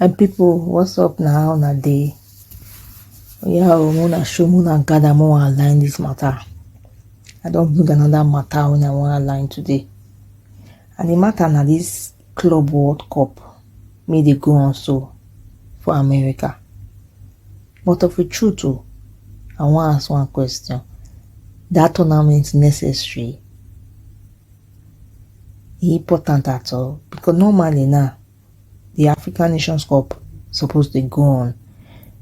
my people what's up now how una dey oya o muna show muna gather mo wan align this matter i don bring another matter wey i wan align today and the matter na this club world cup make dey go on so for america but of a truth o i wan ask one question that tournament necessary e important at all because normally now the african nations cup suppose dey go on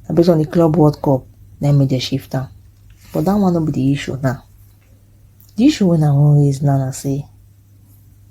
na based on the club world cup na make dem shift am but that one no be the issue now the issue wey i wan raise now na say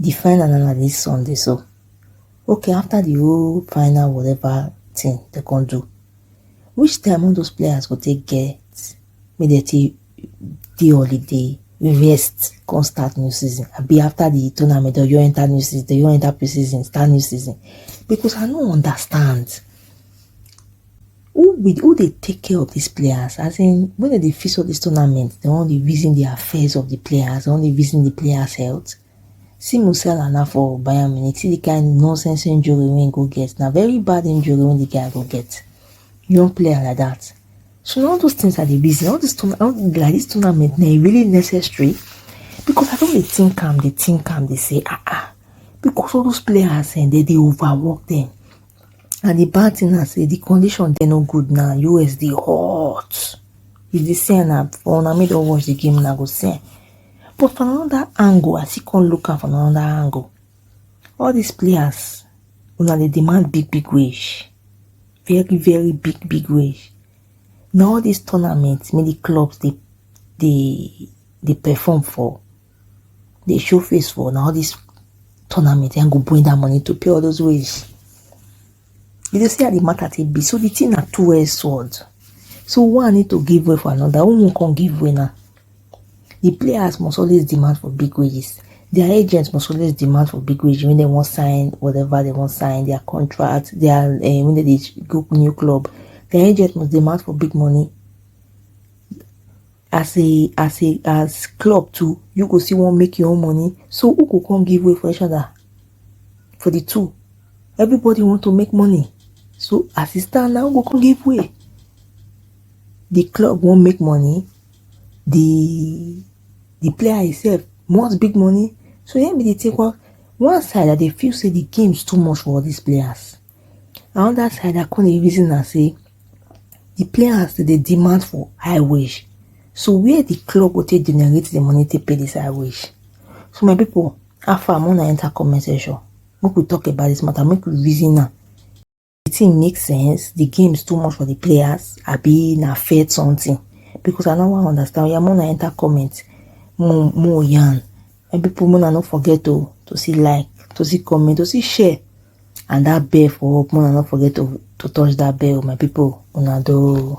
the final na na this sunday so okay after the whole final whatever thing they can do which time all those players go take get make dem take dey holiday rest come start new season I be after the tournament or you enter new season they you enter pre-season start new season because i no understand who be who dey take care of these players as in when they dey fix all these tournaments they wan dey reason the affairs of the players they wan dey reason the players health see Musiala na for Bayern Munich see the kind nonsense injury wey he go get na very bad injury wey the guy go get young player like that so all those things are the reason all this tournament like this tournament na e really necessary because I don dey think am dey think am dey say ah ah because all those players eh, they dey overwork them And the bad thing na say the condition dey no good now. US dey hot. You dey see na for una make don watch the game una go see. But from another angle, I still come look am from another angle. All these players, una dey demand big big wage, very very big big wage. Na all these tournaments make the clubs dey dey dey perform for dey show face for na all this tournament and go bring that money to pay all those ways. You dey see how the matter take be. So the thing na two-edged sword. So one need to give way for another. Who won't come give way now? The players must always demand for big wages. Their agents must always demand for big wages when they want sign whatever they want sign, their contract, their uh, when they go new club. Their agents must demand for big money. as a as a as club too you go see one make your own money so who go come give way for each other for the two everybody want to make money so as e stand now go come give way the club won't make money the the player himself wants big money so let me take one one side that they feel say the game's too much for all these players another side that come dey reason and say the players dey demand for high wage so where the club go take generate the money to pay this high wage so my people how far make una enter comment section make we talk about this matter make we reason now. the thing make sense the game is too much for the players I be na fair something because i no wan understand oya make una enter comment more more yarn my people make una no forget to to see like to see comment to see share and that bell for up make una no forget to to touch that bell my people una do.